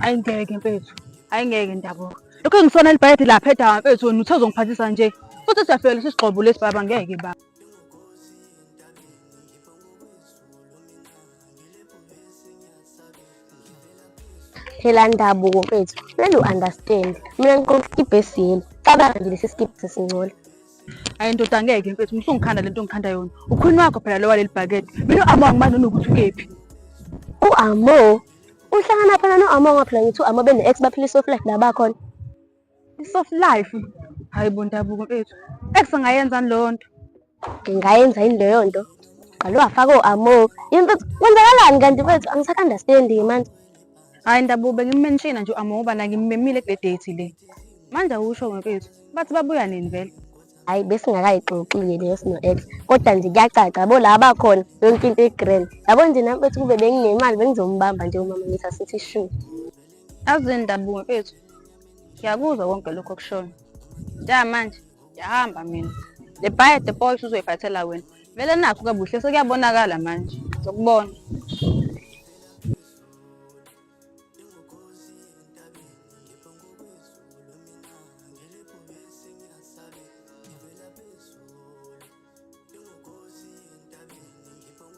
Ayi ngeke mfethu. Ayi ngeke ndabuka. Lokho engisona libhayede lapha edawa mfethu wena uthe uzongiphathisa nje. Futhi siyafika lesi sigxobo lesi baba ngeke baba. phela ndabuko mfethu kumele u-understand mina ngiqoka iskibha esiyelo cabanga nje lesi skibha sesingcola ayi ndoda ngeke mfethu ngisungikhanda le nto ngikhanda yona ukhwini wakho phela lowa leli bhakede mina u-amo angimani nonokuthi ukephi u-amo uhlangana phela no-amo ngaphela ngithi u-amo bene-ex baphila i-soft life la bakhona I-soft life hayi bo ndabuko mfethu ekusingayenzani leyo nto ngingayenza yini leyo nto qale wafaka o-amo yini mfethu kwenzakalani kanti mfethu angisaka-understandi manje hhayi ndabuko bengimenshina nje u-amo ngoba nangimmemile kule date le manje awusho mfethu bathi babuya nini vele hhayi besingakayixoxile leyo sino-ex kodwa nje kuyacaca yabo la bakhona yonke into i-grand yabo nje nami mfethu kube benginemali bengizombamba nje umama ngithi asithi shu Azini Dabu mfethu. Ngiyakuzwa konke lokho okushona. Ja manje ngiyahamba mina. Le bhaye the boys uzoyiphathela wena. Vele nakho kabuhle sekuyabonakala manje. Ngizokubona.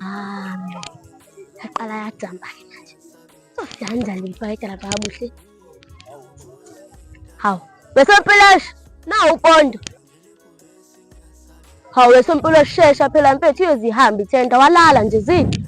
Ah, yaqala yajamba ke manje. Sofihanda lifa edala babuhle. Hawu, wesompilosha nawu upondo. Hawu wesompilosha shesha phela mfethu iyozihambi thenda walala nje zini.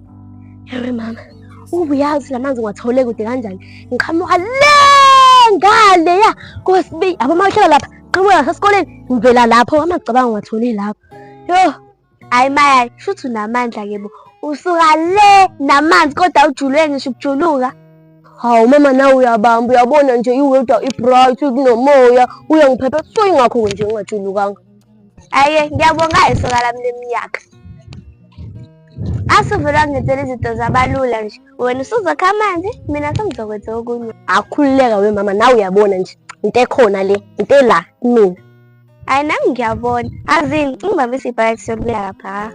Hore mama, ubu yazi lamanzi ngiwathole kude kanjani? Ngiqhamuka le ngale ya kosibi abo mahlala lapha qhamuka ngasesikoleni ngivela lapho amacabanga ngiwathole lapho. Yo, hayi maya, shuthi unamandla ke bo. Usuka le namanzi kodwa ujulwe ngisho ukujuluka. Hawu mama nawe uyabamba uyabona nje iwedwa i-bright kunomoya uyangiphepha so ingakho nje ngingajulukanga. Aye, ngiyabonga isoka lami leminyaka. Asuvele wangenzela izinto zabalula nje. Wena usuzokha amanzi, mina sengizokwenza okunye. Akhululeka we mama, nawe uyabona nje. Into ekhona le, into ela mina. Hayi nami ngiyabona. Azini, ungibambisa ibhayisi yokuya lapha.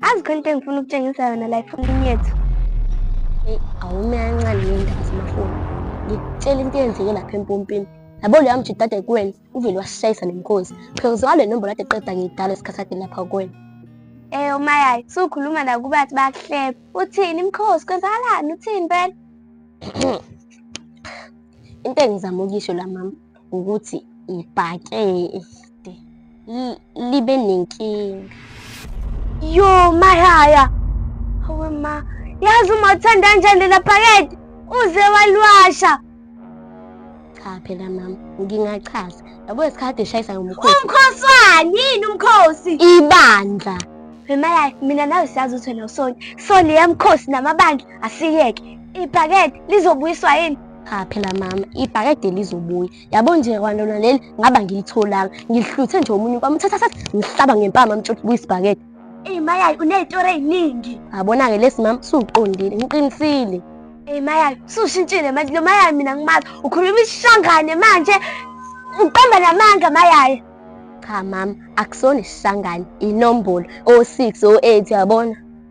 azi khona into engifuna ukutshengisa yona la efonini yethu eyi awumiyancane yeyindaba zamafoni ngikutshela into eyenzeke lapha empompini yabo leyo amjida ade kuwena uvele wasishayisa nemkhosi because ngale nombolo ade qeda ngiyidala esikhathi ade lapha kuwena Eh umayayi sukhuluma nakubathi bakuhleba. Uthini imkhosi kwenzakalani uthini phela? Into engizama ukisho la mama ukuthi ibhakede libe nenkinga yo mahaya hawe ma yazi uma uthanda kanjani lela bhakede uze waliwasha cha phela mama ngingachaza yabo isikhathi eshayisa ngomkhosi umkhosi wani yini umkhosi ibandla Remalayo mina nawe siyazi ukuthi wena usoni. So leya mkhosi namabandla asiyeke. Ibhakede lizobuyiswa yini? Cha phela mama, ibhakede lizobuya. Yabo nje kwantona leli ngaba ngilitholanga. Ngihluthe nje omunye kwami uthatha sathi ngihlaba ngempama mtshoti kuyisibhakede. Eyi mayayi unezitori eziningi. Abona-ke lesi mama suqondile, ngiqinisile. Eyi mayayi sushintshile manje lo mayayi mina ngimazi ukhuluma isishangane manje uqamba namanga mayayi. Cha mama, akusona isishangane, inombolo o-6 o-8 yabona.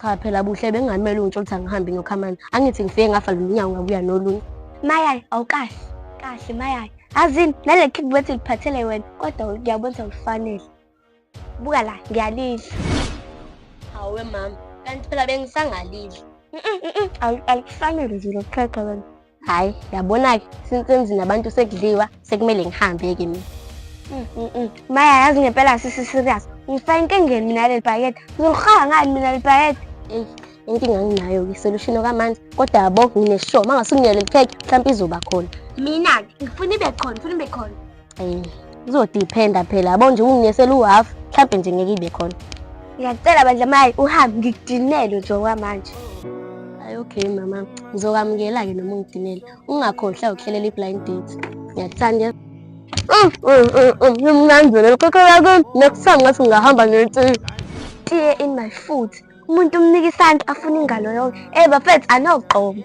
Cha phela buhle bengamele ungitsho ukuthi angihambi nokhamana. Angithi ngifike ngafa lo nyawo ngabuya nolunye. Mayayi awukahle. Kahle mayayi. Azini nale kick bethi liphathele wena kodwa ngiyabona ufanele. Buka la ngiyalidla. Hawe mama kanti phela bengisangalidla. Alikufanele nje lokuqhaqha wena. hayi yabona-ke since emzini abantu sekudliwa sekumele ngihambe-ke mina mm, mm, mm. maya yazi ngempela sisiserious ngifake inkengeni mina leli bhakede ngizolirhaya ngani mina leli bhakede eyi inkinga nginayo-ke isolushini okamanzi kodwa yabo ngineshow uma ngase unginele likhekhe mhlawumpe izoba khona mina-ke ngifuna ibe khona ngifuna ibe khona um kuzodiphenda phela yabo nje unginesela u-half mhlawumbe nje ngeke ibe khona ngiyakucela bandla mayi uhambe ngikudinele nje okwamanje ayi okay mama ngizokwamukela-ke noma ungidinele ungakhohlwa ukuhlelela i-blind date ngiyakuthanda ngimnanzela lokho yakho nekusam ngathi ngingahamba ngethi tiye in my foot umuntu umnika isandla afuna ingalo yonke ey bafethu anogqomo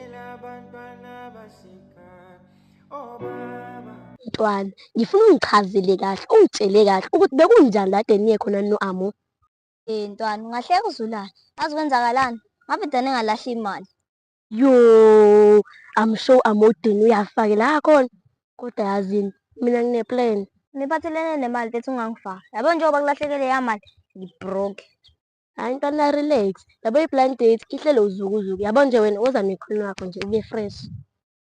Mntwana, ngifuna ungichazele kahle, ungitshele kahle ukuthi bekunjani kade niye khona no-Amo. Eh ntwana, ungahleka uzulane. Ngazi kwenzakalani? Ngabe dane ngalahla imali. Yo, I'm sure amodini uyafakela khona. Kodwa yazini, mina ngine-plan. Niphathelene nemali bethi ungangifaki. Yabo njengoba kulahlekele yamali, ngibroke. Hayi ntwana relax. Yabo i-blind date ihlelo uzukuzuku. Yabo nje wena woza nekhona wakho nje ube fresh.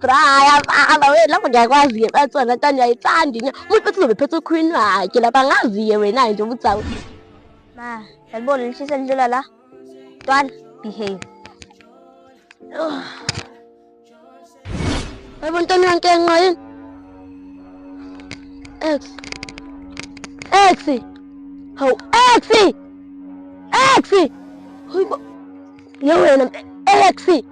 braya baba we lapho ngiyakwazi-ke batswana tani uyayithandi nya umuntu bethi uzobe phethe ukhwini wakhe lapha angazi-ke wena-ke nje ukuthi awu ma yalibona lishisa lidlula la twana behave yebo ntoni yankenqa yini ex ex hawu ex ex hayibo yewena ex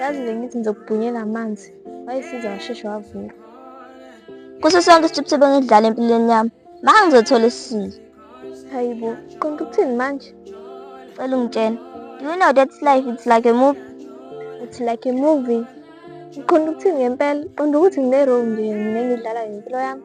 yazi bengithi ngizokubhunyela amanzi wayesiza washeshe wavuka kuso sonke isitshipsi bengidlala empilweni yami maka ngizothola isisile hayi bo konke ukuthini manje cela ungitshena do you know that life it's like a movie it's like a movie ngiqonda ukuthini ngempela qonda ukuthi ngine-role nje mina engidlala ngempilo yami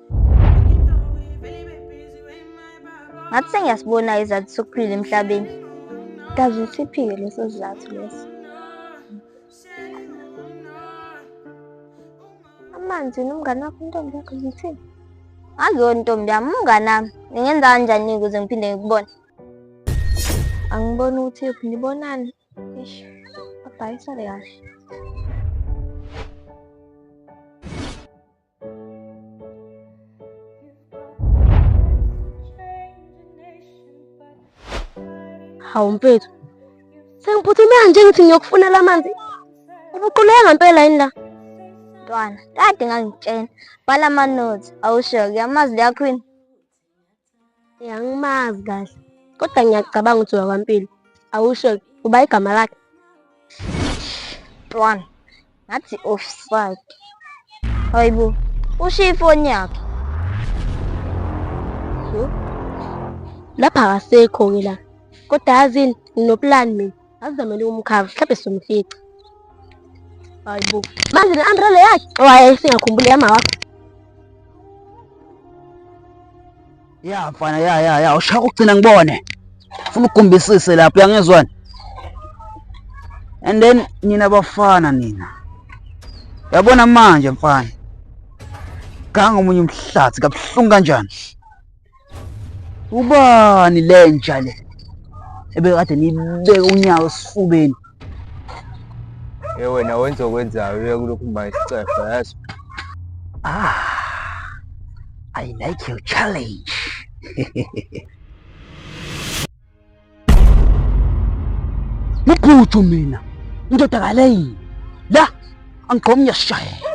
ngathi sengiyasibona izathu sokuphila emhlabeni kazi usiphike leso sizathu leso amanzi nomngane wakho intombi yakho zithini ngaziwo ntombi yami umngane wami ngingenza kanjani ukuze ngiphinde ngikubone angiboni ukuthi yophi nibonani ish abhayisale kahle Hawu mfethu, sengiphuthumela nje ngithi ngiyokufunela amanzi. Ubuquleka ngempela yini la? Ntwana, kade ngangitshena. Bhala ama-notes. Awusho-ke, amazi liyakhwina. Angimazi kahle kodwa ngiyacabanga ukuthi wakwampilo awusho uba igama lakhe one ngathi offside hayibo ushiye ifoni yakhe lapha akasekho-ke la kodwa yazini nginopulani mina Azizamele umkhava, mhlawumbe somfica. Hayi bo. Manje le umbrella yakhe owaye oh, singakhumbuli yama wakho. Ya mfana ya ya ya ushaka ugcina ngibone. Ufuna ukugumbisise lapho uyangizwana. And then nina bafana nina. Yabona manje mfana. Ganga omunye umhlathi kabuhlungu kanjani? Ubani lenja le ebekade nibeke unyawo esifubeni? Ye wena wenza okwenzayo uye kulokhu mba isicefe yazi. Ah, I like your challenge. Muphuthu mina, indoda kaleyi. La, angigqomi ngiyashayela.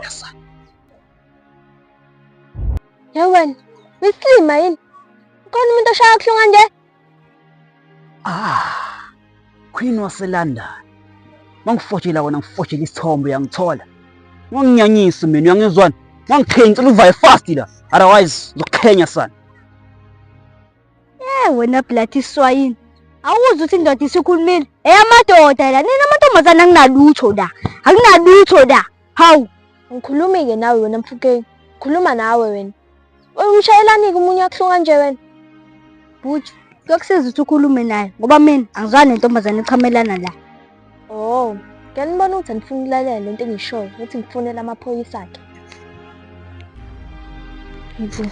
Yewena, uyisilima yini? Ukhona umuntu oshaya kuhlu kanje? Ah. Queen waseLondon. Mangifotshela wona ngifotshela isithombe uyangithola. Ngonginyanyisa mina uyangizwana. Ngangikhengisela uvaye fast la. Otherwise ngizokukhenya sana. Eh wena blood iswayini. Awuzi ukuthi indoda isikhulumile. Eyamadoda la nina amantombazane anginalutho la. Anginalutho la. Hawu. Ngikhulumi ke nawe wena mfukeni. Khuluma nawe wena. Uyishayelani ke umunye akuhlunga nje wena? Bhuti, kuyokusiza ukuthi ukhulume naye ngoba mina angizwani nentombazane echamelana la. Oh, ngiyanibona ukuthi anifuni ukulalela lento engishoyo, ukuthi ngifonele amaphoyisa akhe. Yibo.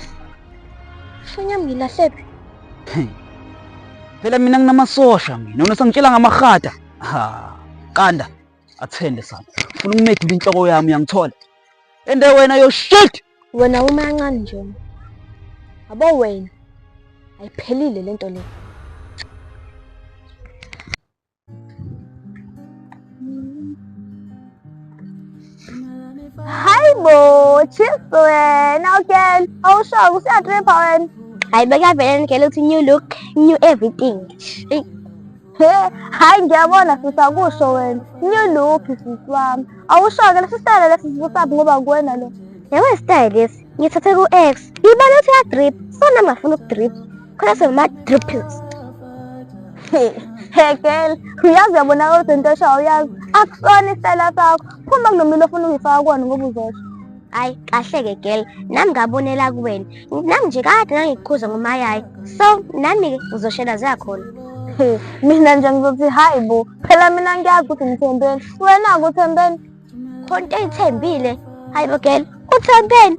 Ifoni yami ngilahlephi? Phela mina nginamasosha mina, wena sangitshela ngamarhada. Ha, qanda. Athende sana. Ufuna ukumedula inhloko yami uyangithola. Ende wena yo shit. Wena uma kancane nje. Abo wena. Ayiphelile lento le. Hi bo, cheers to it. Now again, oh sure, we see a trip on. Hi, beg I better get a new look, new everything. Hey, hi, ngiyabona sisi akusho wena. New look sisi wami. Awusho-ke lesi style lesi sibusabi ngoba kuwena lo. Yawe style lesi. Ngithathe ku-X. Ibale uthi ya drip. Sona ngingafuna ukudrip. Kodwa sema dripples. Hey, hey girl, uyazi uyabonakala ukuthi into eshayo uyazi. Akusona isitayela sakho. Phuma kunomilo ofuna ukuyifaka kuwona ngoba uzosho. Hayi kahle-ke girl, nami ngabonela kuwena. Nami nje kade ngangikukhuza ngomayayi. So, nami-ke uzoshela zakhona. Hey, mina nje ngizothi hayi bo. Phela mina ngiyazi ukuthi ngithembeni. Wena kuthembeni. Khona into eyithembile. Hayi bo girl, uthembeni.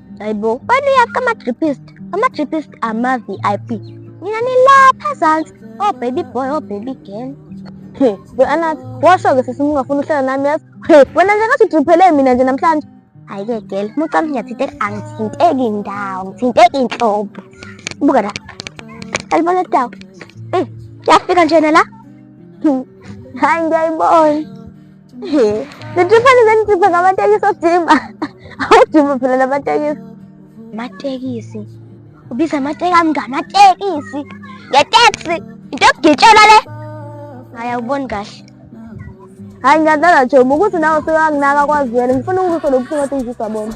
Hayibo, wena uyaphi ama-dripist? Ama-dripist ama-VIP. Nina nilapha ezansi, oh baby boy, oh baby girl. He, we anathi, washo-ke sisi mungafuni uhlala nami yazi. He, wena nje ngathi udriphele mina nje namhlanje. Hhayi-ke girl, uma ucanga ngiyathinteka, angithinteki ndawo, ngithinteki inhlobo. Buka la, alibona dawo. Eh, yafika njena la. Hhayi ngiyayibona. Nithifane zenithiphe ngamatekisi odima. Awudima phela namatekisi. Amatekisi. Ubiza amatekisi ami ngamatekisi. Ngeteksi. Into yokugitshela le. Hayi awuboni kahle. Hayi ngiyadlala Jomo ukuthi nawe sewanginaka kwazwele ngifuna ukuzwa lobuhlungu othi ngizizwa bona.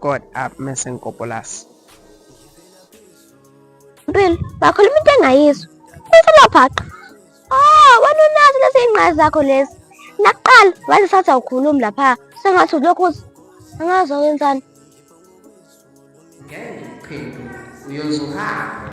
God up mese ngikopolasi. Mpilo, bakhuluma into engayizwa. Umfana bhaqa. Oh, wena unazo lezi ingqazi zakho lezi. Nakuqala wathi sathi awukhulumi lapha. Sengathi ulokhu angazi wenzani. Ngeke uphinde uyozuhamba.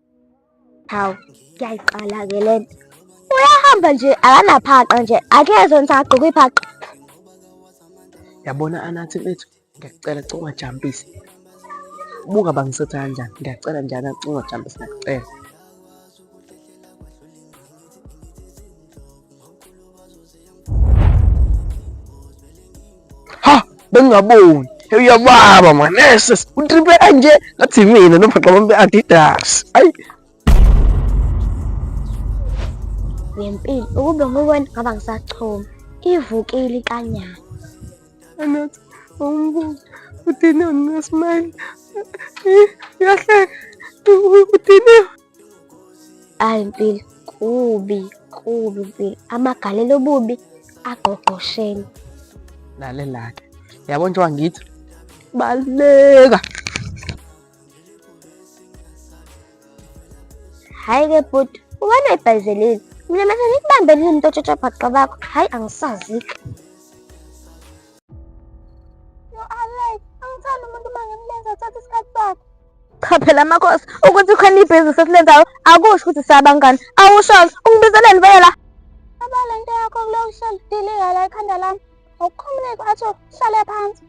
hawu kuyayiqala ke le nto uyahamba nje akanaphaqa nje akezwe ngithi agqoke iphaqa yabona anathi mfethu ngiyakucela cela ungajampisi buka bangisetha kanjani ngiyakucela njani ungajampisi ngiyakucela ha bengingaboni hey uyababa manese utripe kanje ngathi mina nobhaxa bami be-adidas ayi ngempilo ukube nguwena ngaba ngisachoma ivukile ikanyana anathi umbuzo udiniwe nesmayile uyahleka udiniwe Hayi mpilo, kubi kubi mpilo, amagalelo obubi agqogqosheni. Lalelake, yabo nje wangithi baleka. Hayi ke bhuti, ubana ibhayizelile mina manje ngikubambe lini into tshotsho bhaqa bakho hayi angisazike yo alex angithandi umuntu uma ngimlenza athatha isikhathi sakhe Cha phela amakhosi ukuthi khona ibhizinisi esilenzayo akusho ukuthi siyabangani. Awusholo ungibizeleni vele la. Baba le nto yakho kulokusholo diliga la ekhanda lami. Awukhumuleki athi uhlale phansi.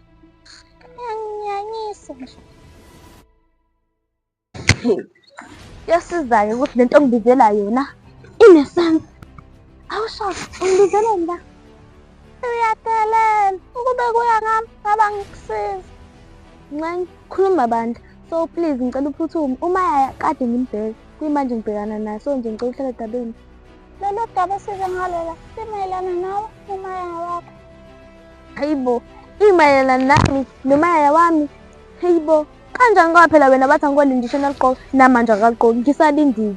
Ngiyanyisa nje. Yasizayo ukuthi lento ngibizela yona inesense. Awusholo ungibizeleni la. Uyadelela ukube kuya ngami ngaba ngikusiza. Nxeng, khuluma bandla. So please ngicela uphuthume. Uma yaya kade ngimbheke. Kuyimanje ngibhekana naye so nje ngicela uhlale dabeni. Lolu daba size ngalola simayelana nawe nomaya wakho. Hayibo, imayelana nami nomaya wami. Hayibo, kanjani kwaphela wena bathi angikole ndisho naligqoka namanje akagqoki ngisalindile.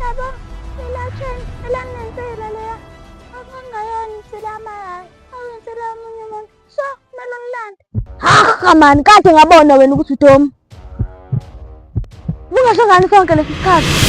Yabo, ilatheni elanensela leya. Akungayona insela amayaya. Awensela omunye umuntu. So, kumele umlande. Haha mani, kade ngabona wena ukuthi uTom. Bungasho ngani sonke lesi sikhathi?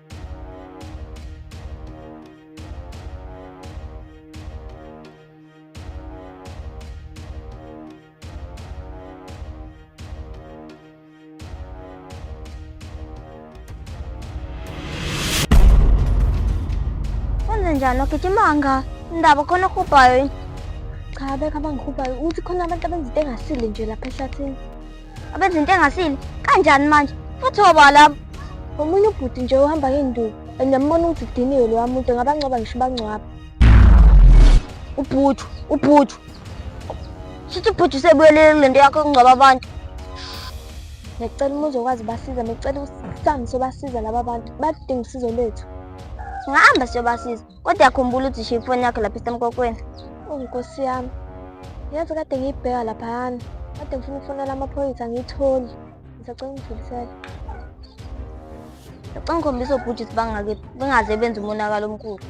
njani lokhetha imanga indaba khona okhubhayo cha beka abangikhuphayo uthi khona abantu abenza into engasile nje lapha ehlathini abenza into engasile kanjani manje futhi oba labo omunye ubhuti nje uhamba ngenduku and yambona ukuthi kudiniwe lowa muntu ngabangcwaba ngisho ubangcwaba ubhutu ubhutu sithi ubhutu sebuyelele kule nto yakho yokungcwaba abantu ngicela uma uzokwazi basiza ngicela usihambe sobasiza laba bantu badinga usizo lwethu singahamba siyobasiza Kodwa yakhumbula ukuthi ishiye ifoni yakho lapha isemkokweni. Oh nkosi yami. Yazi kade ngiyibheka laphayana. Kade ngifuna ukufonela amaphoyisa ngiyitholi. Ngisacela ungidlulisele. Ngicela ngikhombisa obhuti ukuthi bangake bengaze benze umonakalo omkhulu.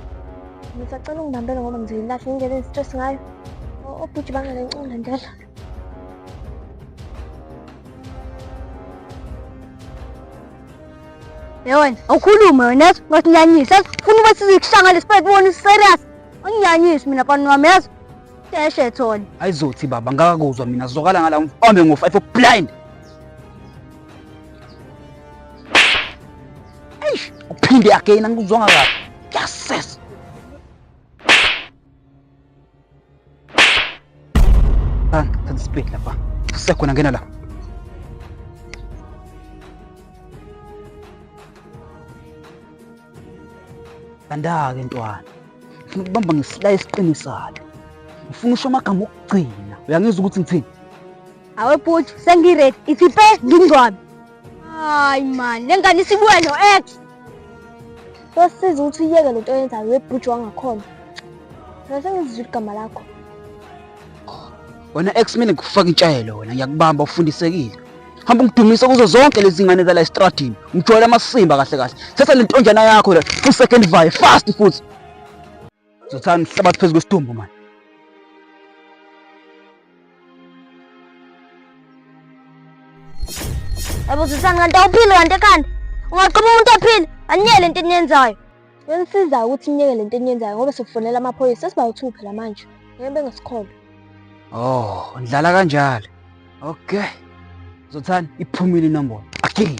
Ngisacela ungibambele ngoba ngizoyilahle ngendlela engistress ngayo. O- Obhuti bangalenqola ndela. Yewena, awukhulume wena yazi ngasinyanyisa yazi funa uba sizikushanga lespet bona serious. Anginyanyisi mina pani wami yazi. Deshe thona. Ayizothi baba ngakakuzwa mina sizokala ngala mfambe ngo 5 blind. Eish, uphinde again angikuzwanga kahle. Yes. Split lapha. Sasa kuna ngena la. Andake ntwana. Ngifuna ukubamba ngesila esiqinisayo. Ngifuna usho amagama okugcina. Uyangizwa ukuthi ngithini? Awe bhuti, sengiready. Ithi pe ngingcwabe. Hayi man, lengane isibuya no ex. Yosiza ukuthi uyeke lento oyenzayo webhuji wangakhona. Ngase ngizizwe igama lakho. Wena ex mina ngikufaka intshayelo wena ngiyakubamba ufundisekile. Hamba ungidumise kuzo zonke lezi ngane zala estradini. Ngijwayele amasimba kahle kahle. Thatha lentonjana yakho la, u second vibe fast futhi. Zothani hlabathi phezu kwesidumbu manje. Yabo Zothani kanti awuphili kanti ekhanda. Ungaqoma umuntu ephila, anyele into eniyenzayo. Benisiza ukuthi niyeke lento eniyenzayo ngoba sikufonela amaphoyisa sesibawu-2 phela manje. Ngeke bengasikholwa. Oh, ndlala kanjalo. Okay. Zothani iphumile inombolo. Akili.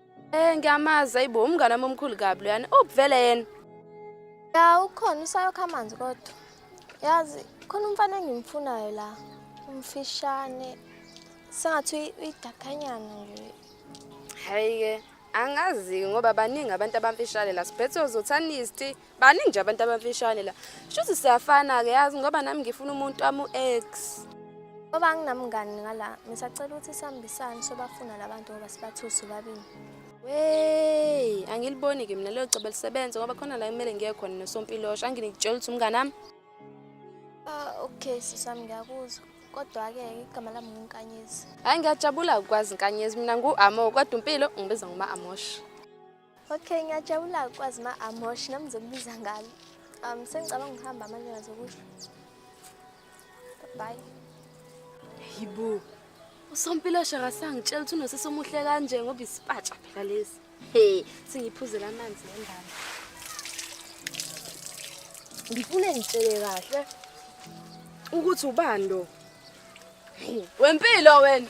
Eh ngiyamazi ayibo umngane wami omkhulu kabi loyana. Ubuvele yena. Ya ukhona usayokha amanzi kodwa. Yazi khona umfana engimfunayo la. Umfishane. Sengathi uyidakanyana nje. Hayi ke angazi ngoba baningi abantu abamfishane la sibhethe uzothanist baningi nje abantu abamfishane la shuthi siyafana-ke yazi ngoba nami ngifuna umuntu wami u-x ngoba anginamngani ngala ngisacela ukuthi sihambisane sobafuna la bantu ngoba sibathusi babini wey angiliboni-ke mina leyo cobe lisebenze ngoba khona la kumele ngiye khona nosompilosha anginikutshela ukuthi umngani ami ah, okay sisami ngiyakuzwa kodwa-ke igama lami ngunkanyezi hhayi ngiyajabula ukwazi nkanyezi mina ngu-amo kodwa impilo ngibiza nguma-amosha Okay, ngiyajabula ukwazi ma amosh nami ngizokubiza ngalo. Um sengicabanga ukuhamba manje ngazokusho. Bye. Yibo. Usompilo shaka sangitshela ukuthi unosisi omuhle kanje ngoba isipatsha phela lesi. He, singiphuzela amanzi ngendaba. Ngifune ngitshele kahle ukuthi ubani lo. Wempilo wena.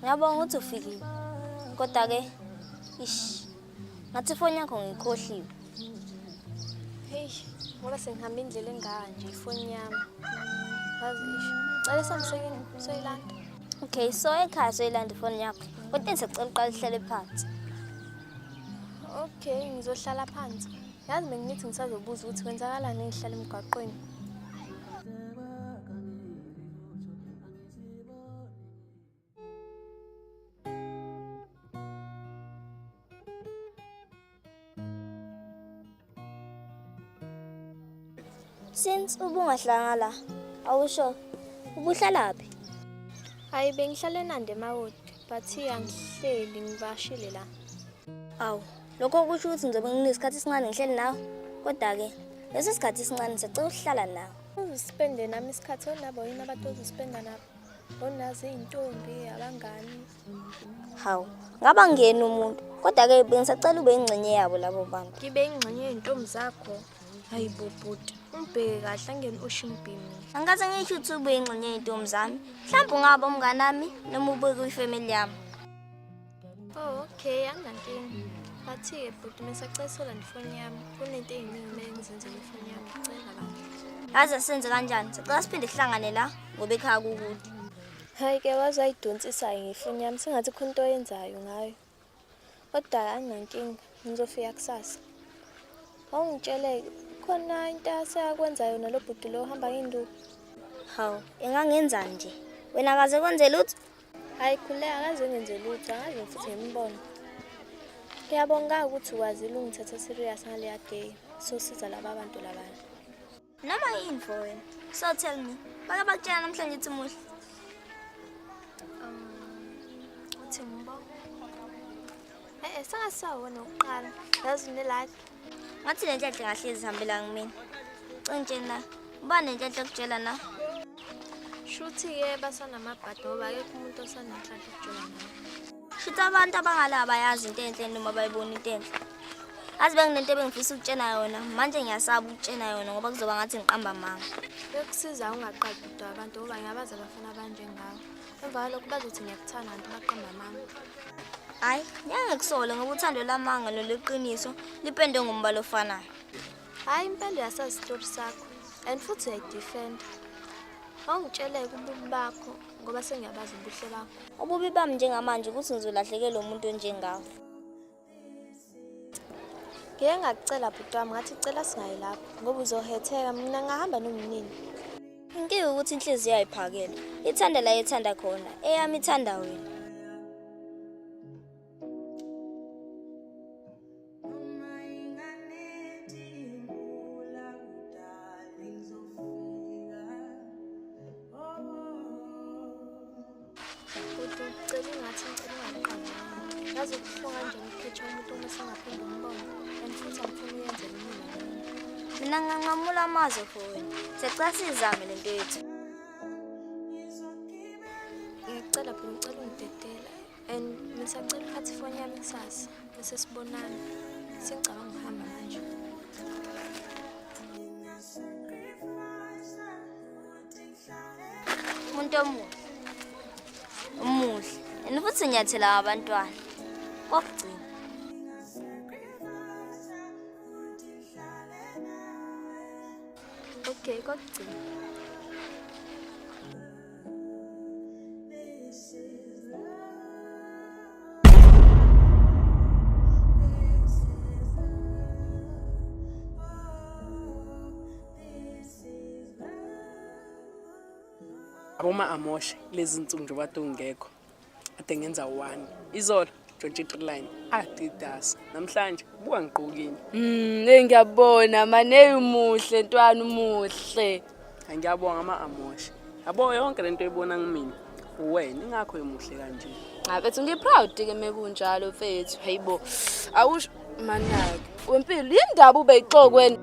Ngiyabonga ukuthi ufikile. Kodwa ke ish. Ngathi ifoni yakho ngiyikhohliwe. Hey, ngoba sengihamba indlela enganje ifoni yami. Ngazi ish. Cela samsengini soyilanda. Okay, so ekhaya soyilanda ifoni yakho. Kodwa engisacela uqala uhlale phansi. Okay, ngizohlala phansi. Yazi bengithi ngisazobuza ukuthi kwenzakalani ngihlala emgwaqweni. Since ubungahlanga la, awusho ubuhlala phi? Hayi bengihlale nande emawodi, but angihleli ngibashile la. Awu, lokho kusho ukuthi ngizobe nginesikhathi esincane ngihleli nawe. Kodwa ke, lesi sikhathi esincane sicela ukuhlala nawe. Uzispende nami isikhathi onabo yini abantu ozispenda nabo onazi iy'ntombi abangani hawu ngaba ngeni umuntu kodwa-ke bengisacela ube ingxenye yabo labo bantu ngibe ingxenye yey'ntombi zakho hayi bobhuti umbheke kahle angeni oshimbhini angikaze ngisho ukuthi ube ingxenye yey'ntombi zami mhlawumbe ungaba umnganami noma ubeke kwifemeli yami Oh, okay, anginankinga. Bathi-ke bhuti mesacela sola ndifoni yami. Kunento ey'ningi kumele ngizenzele ifoni yami. Ngicela bandla. Yaze senze kanjani? Sicela siphinde sihlangane la ngoba ekhaya kukude. Hhayi ke waze wayidonsisayo ngefoni yami sengathi khona into oyenzayo ngayo. Kodwa anginankinga, ngizofika kusasa. Wawungitshele-ke khona into aseyakwenza yona lo bhuti lo ohamba ngenduku. Hawu, engangenzani nje? Wena kaze kwenze lutho? Hayi khule akaze ngenze lutho, akaze futhi ngimbono. Ngiyabonga ukuthi ukwazile ungithatha serious ngaleya day. Sosiza laba bantu labana. Noma yini for wena. So tell me, bake bakutshela namhlanje ukuthi muhle. Um, uthi mbo. Eh, eh, saka sawona uqala. Yazi unelakhe. ngathi le ntethe ngahle izihambela ngimina cinga nje na uba nentethe okutshela na shuthi-ke basanamabhadi ngoba akekho umuntu osanenhlanhla okutshela naye shuthi abantu abangala abayazi into enhle noma bayibona into enhle azi benginento ebengifisa ukutshena yona manje ngiyasaba ukutshena yona ngoba kuzoba ngathi ngiqamba manga bekusiza ungaqadi udwa abantu ngoba ngiyabazi abafana abanjengawo Emva kwalokho bazothi ngiyakuthanda kanti baqamba amanga. Hayi, ngiyangekusole ngoba uthando lamanga loluqiniso lipende ngombala ofanayo. Hayi impela uyasazi isitori sakho and futhi uyayidefenda. Awungitsheleke ububi bakho ngoba sengiyabazi ubuhle bakho. Ububi bami njengamanje ukuthi ngizolahlekelwa umuntu onjengawe. ngike ngakucela bhuti wami ngathi cela singayi lapho ngoba uzohetheka mina ngahamba nomnini inkinga ukuthi inhliziyo ayiphakele ithanda la ethanda khona eyami ithanda wena mina nganqamula amazwi for wena sicela sizame le nto yethu ngicela phela ngicela ungidedela and ngisacela ukuphatha ifoni yami kusasa bese sibonana sengicabanga ukuhamba manje umuntu omuhle umuhle and futhi nyathela abantwana kokugcina okay kokugcina aboma amoshe lezi nsuku nje bathi ungekho ade ngenza one izolo 23 line adidasa namhlanje buka ngigqokile mm hey ngiyabona maneyi umuhle ntwana umuhle ngiyabonga ama amoshe yabo yonke lento oyibona kumina uwena ingakho emuhle kanje ngabethu ngiproud ke mekunjalo mfethu hayibo awusho manake wempilo yindaba ubeyixokwena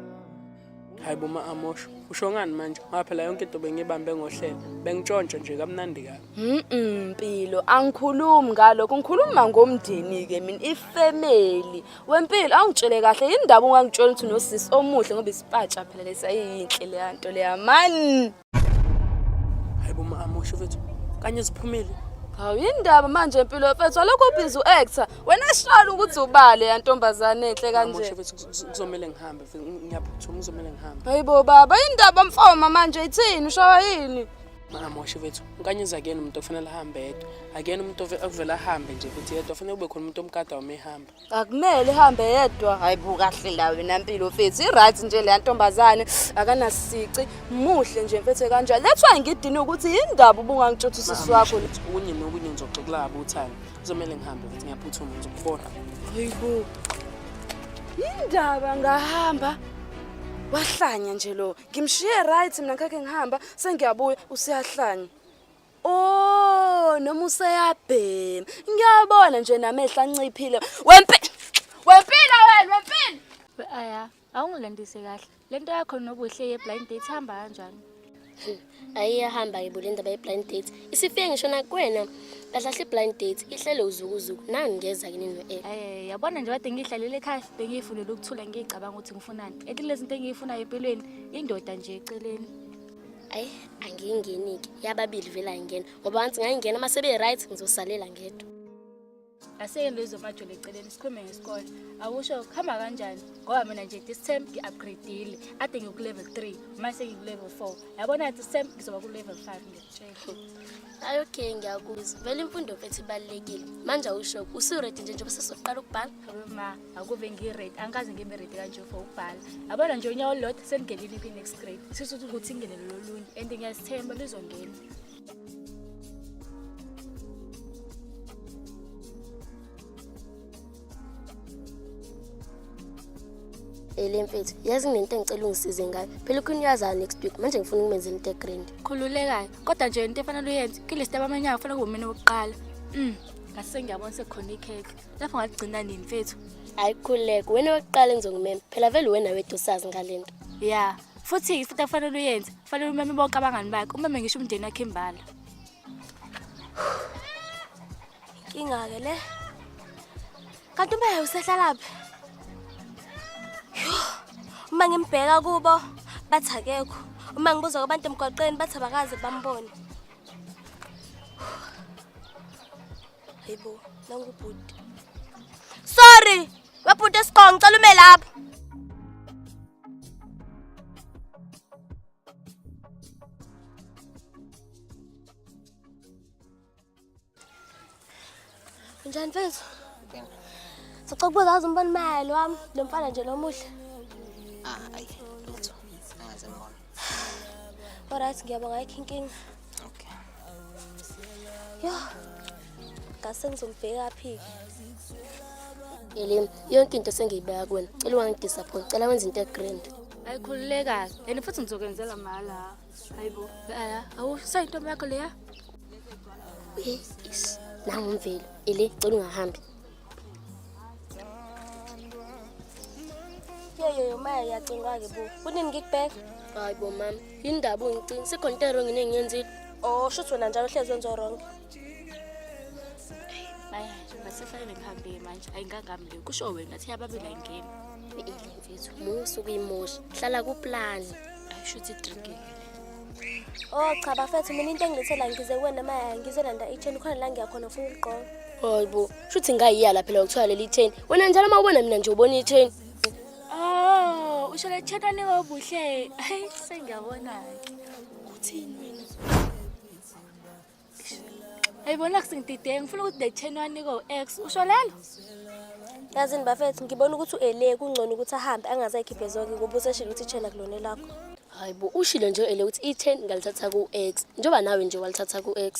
hayi bo ma-amosho usho ngani manje ngoba phela yonke into bengiyibambe ngohlelo bengitshontsha nje kamnandi kabi Mm-mm, mpilo angikhulumi ngalokho ngikhuluma ngomndeni-ke mina ifemeli wempilo awungitshele kahle yini ndaba ungangitshela ukuthi unosisi omuhle ngoba isipatsha phela lesiyayiyinhle leya nto leya mani hayi bo mama usho fethu kanye ziphumile hawu yindaba manje empilo mfethu alokho ubhizi u-actor wena shona ukuthi ubale yantombazane enhle kanje kuzomele ngihambe ngiyaphuthuma kuzomele ngihambe hayi bo baba yindaba mfoma manje ithini ushawa yini angamoshe fethu unkanyezi akuyena umuntu okufanele ahambe yedwa akuyena umuntu okuvele ahambe nje futhi yedwa kufanele kube khona umuntu omkada wama ehamba akumele ihambe yedwa hayi buka kahle ndawo wena mpilo mfethu i-right nje leya ntombazane akanasici muhle nje mfethu kanjani lethwa ngidini ukuthi yindaba ubungangitshothi usisi wakho kunye nokunye ngizoxoxelaba uthani kuzomele ngihambe ukuthi ngiyaphuthuma ngizokubona hayibo yindaba ngahamba wahlanya nje lo ngimshiye right mina ngakhe ngihamba sengiyabuya useyahlanya Oh, noma useyabhema. Ngiyabona nje namehla anciphile. Wempi! Wempilo wena, wempilo. Aya, awungilandise kahle. Lento yakho nobuhle ye blind date hamba kanjani? ayiyahamba ke bule ndaba ye-blind date isifike ngisho nakwena kahlahle i-blind date ihlele uzukuzuku nangu ngeza kini no-app um yabona nje kade ngiyihlalele ekhaya bengiyifunele ukuthula ngiyicabanga ukuthi ngifunani ethi lezi nto engiyifunayo empilweni indoda nje eceleni ayi angiyingeni-ke yababili vele ayingena ngoba once ngayingena uma sebe-right ngizosalela ngedwa aseke nto izomajula eceleni sikhulume ngesikole akusho kuhamba kanjani ngoba mina nje this term ngi-upgradile ade ngikulevel three manje sengikulevel four yabona this term ngizoba kulevel five ngiyakutshela ayi okay ngiyakuzwa vele imfundo mfethu ibalulekile manje awusho usuredi nje njengoba sesoqala ukubhala ma akuve ngi-rate angikaze ngibe rate kanje for ukubhala yabona nje unyawo olulodwa selingenile kwi-next grade sisho ukuthi ukuthi ingenele lolunye and ngiyazithemba lizongena ele mfethu yazi nginento engicela ungisize ngayo phela ukhona uyazayo next week manje ngifuna ukumenzela into egrand khululekayo kodwa nje into efanele uyenze kule sitaba amanyanga kufanele kube mina wokuqala um ngase ngiyabona sekukhona ikhekhe lapho ngaligcina nini mfethu hayi khuleka wena wokuqala engizongimema phela vele wena wethu usazi ngale nto ya futhi ifuthi akufanele uyenze kufanele umeme bonke abangani bakhe umeme ngisho umndeni wakhe imbala inkinga-ke le kanti umeya usehlalaphi uma ngimbheka kubo bathi akekho uma ngibuza kwabantu emgwaqeni bathi abakaze bambone Hayibo, nangu bhuti. Sorry, webhuti esiqongo ngicela ume lapho. Njani mfethu? Sicela ukubuza azi umbona imali wami lo mfana nje lomuhle. Ah, ayi, lutho. Angaze ngibone. Alright, ngiyabonga ayikho inkinga. Okay. Yo. Ngase ngizombheka phi? Elim, yonke into sengiyibeka kuwena. Cela ungangidisappoint. Cela wenze into egrand. ayikhululekayo and futhi ngizokwenzela mahala hayibo aya awusayi intombi yakho leya Yes. Nangumvelo. Ele, cela ungahambi. Yeke umaya yacinga-ke bo kunini ngikubheka hayi bo mama yini ndaba ungicinga sikhona into erongi nengiyenzile o Oh, shuthi wena njalo uhlezi wenza oronke maya masifanele ngihambile manje ayingangami le kusho wena thi ababili ayingeni ile mfethu musa ukuyimosha hlala kuplani ayisho ukuthi idrinkile Oh cha bafethu mina into engilethela ngize kuwena maya ngizolanda i-chain khona la ngiya khona ufuna ukugqoka. Hayibo, shuthi ngayiya la phela ukuthola leli chain. Wena njalo uma ubona mina nje ubona i-chain. Oh, usho le chain anika obuhle. Hayi sengiyabona ke. Uthini wena? ayibona kusingidideke ngifuna ukuthi ndayitheni waniko ex usho lelo yazini bafethu ngibona ukuthi u-ele kungcono ukuthi ahambe angazayikhiphe zonke ngoba useshile ukuthi itshena kulone lakho hayi bo ushilo nje u-ele ukuthi i-ten ngalithatha ku-ex njengoba nawe nje walithatha ku-ex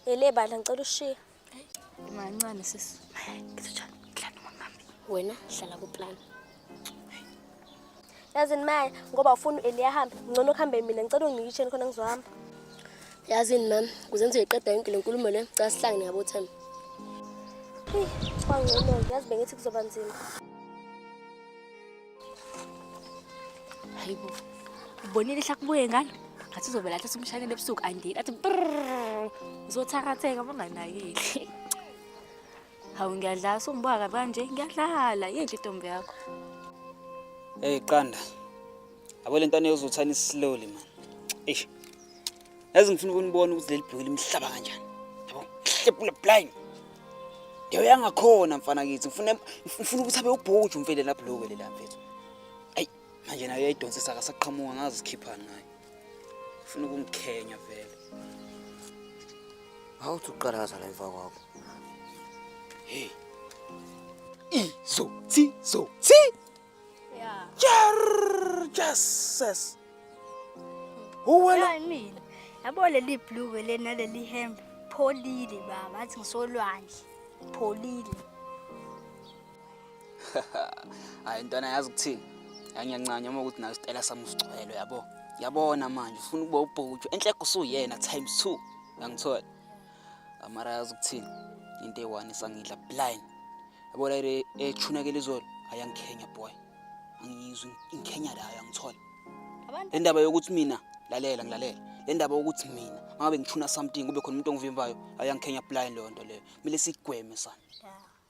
ele bandla ngicela ushiye mancane sisi ngizojani plan nomamami wena hlala kuplani yazini maya ngoba ufuna u-eli ahambe ngcono kuhambe mina ngicela unginike isheni khona ngizohamba yazini mama kuze ngizoyiqeda yonke le nkulumo le cela sihlangene ngabothemba eyi kwangcono yazi bengithi kuzoba nzima hayi bo ubonile ihlakubuye ngalo ngathi uzovela athi simshanele ebusuku andini athi ngizothatheka banganakile Hawu ngiyadlala sungibuka kabi kanje ngiyadlala yinhle intombi yakho. Hey qanda. Abo lento aneyozothana slowly man. Eish. Yazi ngifuna ukunibona ukuthi leli bhekile imhlaba kanjani. Yabo, hlepula blind. Ndewe yangakhona mfana kithi. Ngifuna ngifuna ukuthi abe ubhuju mfele lapho lokho lela mfethu. Ay, manje nayo yayidonsisa akasaqhamuka ngazi sikhiphani ngayo. ufuna ukungikhenya vele awuthi uqala ngazala emva kwakho hey izo thi zo thi yeah jar jesus uwela mina yabo leli blue lena leli hembe pholile baba athi ngisolwandle pholile hayi ntwana yazi kuthini yangiyancanya uma ukuthi nayo isitela sami usigcwele yabo yabona manje ufuna ukuba ubhutshwe enhle kusuyena times two yangithola amara yazi ukuthini into eyi-one isangidla blind yabo la ethunakela izolo ayangikhenya boy angiyizwa ingikhenya layo yangithola le ndaba yokuthi mina lalela ngilalela le ndaba yokuthi mina mangabe ngithuna something kube khona umuntu ongivimbayo ayangikhenya blind leyo nto leyo kumele sigweme sana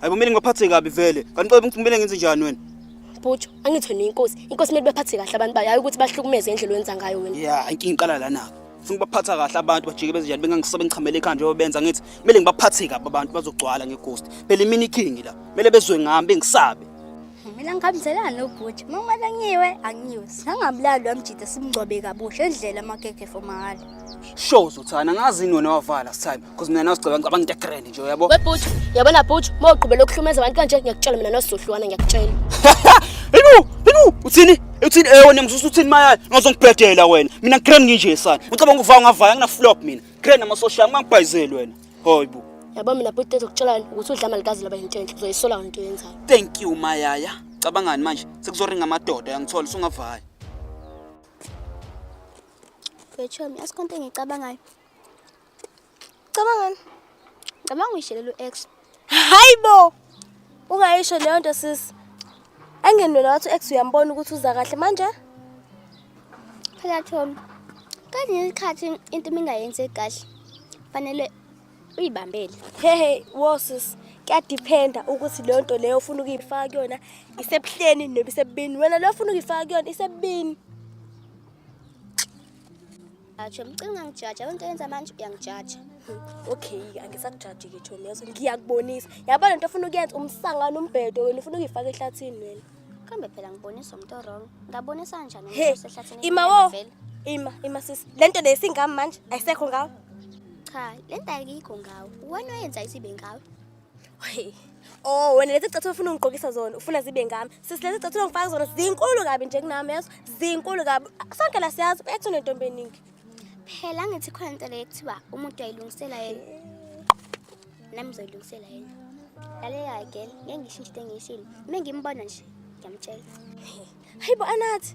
Hayibo mina ngibaphathe kabi vele. Kanti qobe ngithumele ngenze njani wena? Bhutsho, angitho nenkosi. Inkosi kumele baphathe kahle abantu bayo, hayi ukuthi bahlukumeze indlela owenza ngayo wena. Yeah, inkinga iqala lana. Funa ukubaphatha kahle abantu bajike benze njani bengangisobe ngichamele ekhanda njengoba benza ngithi kumele ngibaphathe kabi abantu bazogcwala ngeghost. Phela imini iking la. Kumele bezwe ngami bengisabe. Mina ngihambiselana nobhuti. Uma kumele ngiwe, angiwe. Sangabulali wamjida simngcwabe kabusha endlela amakekhe fomahhala. Show uzothana ngazi nona wavala this time because mina nawusicabanga ngicabanga into grand nje uyabo. Webhuti, yabona bhuti, uma uqhubela ukuhlumeza abantu kanje ngiyakutshela mina nosohlwana ngiyakutshela. Yinu, yinu, uthini? Uthini eh wena ngisusa uthini maya ngizongibhedela wena. Mina grand nginje sana. Ucabanga ukuvaya ngavaya ngina flop mina. Grand amasosha ngangibhayizeli wena. Hayibo. Yabo mina bhuti ezokutshela ukuthi udla malikazi laba into enhle uzoyisola into yenzayo. Thank you Mayaya. Cabangani manje? Sekuzoringa amadoda yangithola usungavaya. Betshomi, asikonto engicabangayo. Cabangani? Cabanga uyishelela u-ex. Hayi bo! Ungayisho leyo nto sisi. Engenwela wathi u-ex uyambona ukuthi uza kahle manje. Phela Thomi. Kanye isikhathi into mingayenze kahle. Fanele uyibambele. Hehe, wo sisi. Kuyadiphenda ukuthi leyo nto leyo ufuna ukuyifaka kuyona isebuhleni noma isebubini. Wena leyo ufuna ukuyifaka kuyona isebubini. Ajo mcinga ngijaja abantu yenza manje uyangijaja. Okay, angisakujaji ke Chomi yazo ngiyakubonisa. Yabo lento ofuna ukuyenza umsangano umbhedo wena ufuna ukuyifaka ehlathini wena. Kambe phela ngibonisa umuntu wrong. Ngabonisa kanjani umuntu osehlathini? Ima wo. Ima, ima sisi. Lento le singami manje ayisekho ngawe. Cha, lento ayikho ngawe. Wena oyenza isibe ngawe. Hey. Oh, wena lezi chatho ufuna ungigqokisa zona, ufuna zibe ngami. Sisi lezi chatho ungifaka zona zinkulu kabi nje kunami yazo, zinkulu kabi. Sonke la siyazi ekuthu nentombi eningi. Phela ngithi khona into le kuthiwa umuntu ayilungisela yena. Nami ngizoyilungisela yena. Lalela girl, ngeke ngishintshe into engiyishilo. Uma ngimbona nje, ngiyamtshela. Hayibo anathi.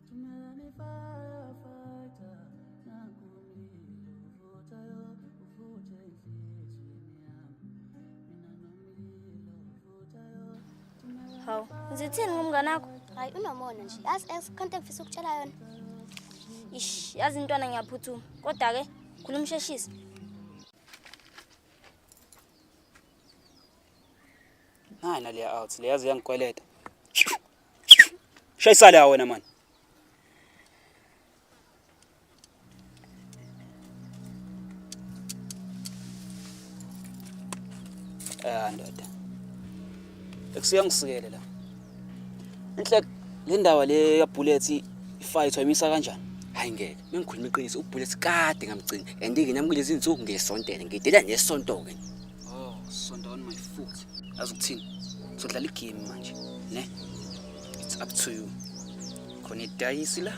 Tumelani firefighter nakumlilo uvuthayo uvuthe enhlizweni yami mina nomlilo uvuthayo Tumelani Hawu, ngizithini ngomngane wakho? Hayi unomona nje. Yazi esikhonto engifisa ukutshela yona. Ish, yazi intwana ngiyaphuthuma. Kodwa ke khuluma usheshise. Hayi naleya out. Leyazi uyangikweleta. Shayisale ha wena mani. Ah ndoda. Ekusuka ngisikele la. Inhle le ndawo le ya bullets ifight wayimisa kanjani? Hayi ngeke. Mengikhuluma iqiniso ubullets kade ngamgcina. And ke nami kulezi insuku ngesontele ngidela nesonto ke. Oh, sonto on my foot. Yazi ukuthini? Sodlala igame manje, ne? It's up to you. Khona idayisi la.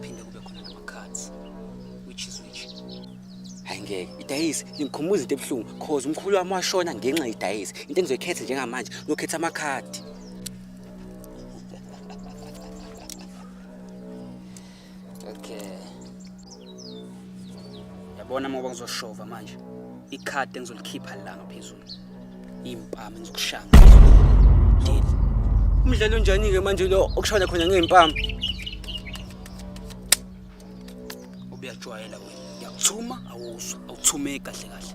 Phinde kube khona nama cards. Which is which? Hayi ngeke, idayisi lingikhumbuza into ebuhlungu cause umkhulu wami washona ngenxa yedayisi. Into engizoyikhetha njengamanje, ngiyokhetha amakhadi. Okay. Yabona ngoba ngizoshova manje. Ikhadi engizolikhipha la ngaphezulu. Impama engizokushaya. Deal. Umdlalo unjani ke manje lo okushona khona ngempama? Ubuyajwayela wena. Ngiyakuthuma awuzwa, awuthumeki kahle kahle.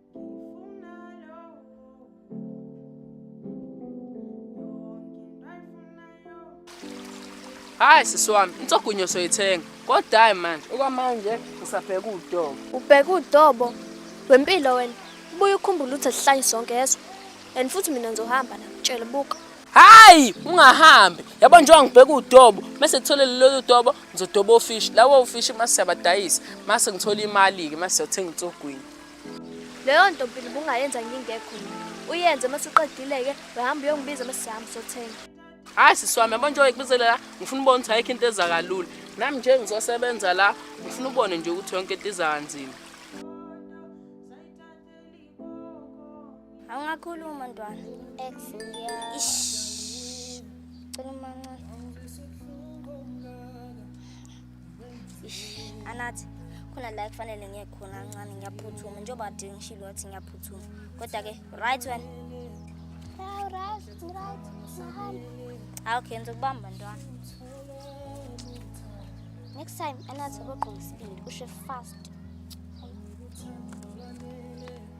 hayi sisi wami insogunyo soyithenga kodwa hayi manje okwamanje ngisabheka udobo ubheka udobo wempilo wena ubuye ukhumbule ukuthi sihlanye sonke yeso and futhi mina ngizohamba la tshela buka hayi ungahambi yabo njengoba ngibheka udobo mase ngithole lelo dobo ngizodoba ofishi lawo ofishi mase siyabadayisa mase ngithola imali-ke mase siyothenga insogwini leyo nto mpilo ubungayenza ngingekho uyenze uma siqedile-ke wehamba uyongibiza uma sihamba sothenga hayi siswami yabo njengoba ngikubizele la ngifuna ubona ukuthi ayikho into eza kalula nami nje ngizosebenza la ngifuna ubone nje ukuthi yonke into iza kanzima Awungakhuluma ntwana. Ex ngiya. Ish. Cela umancane. Ish. Anathi khona la kufanele ngiye khona kancane ngiyaphuthuma njengoba kade ngishilo ngathi ngiyaphuthuma kodwa-ke right wena hawu right right mahamba hawu okay ngizokubamba ntwana next time anathi ubogqoka isibindi ushe fast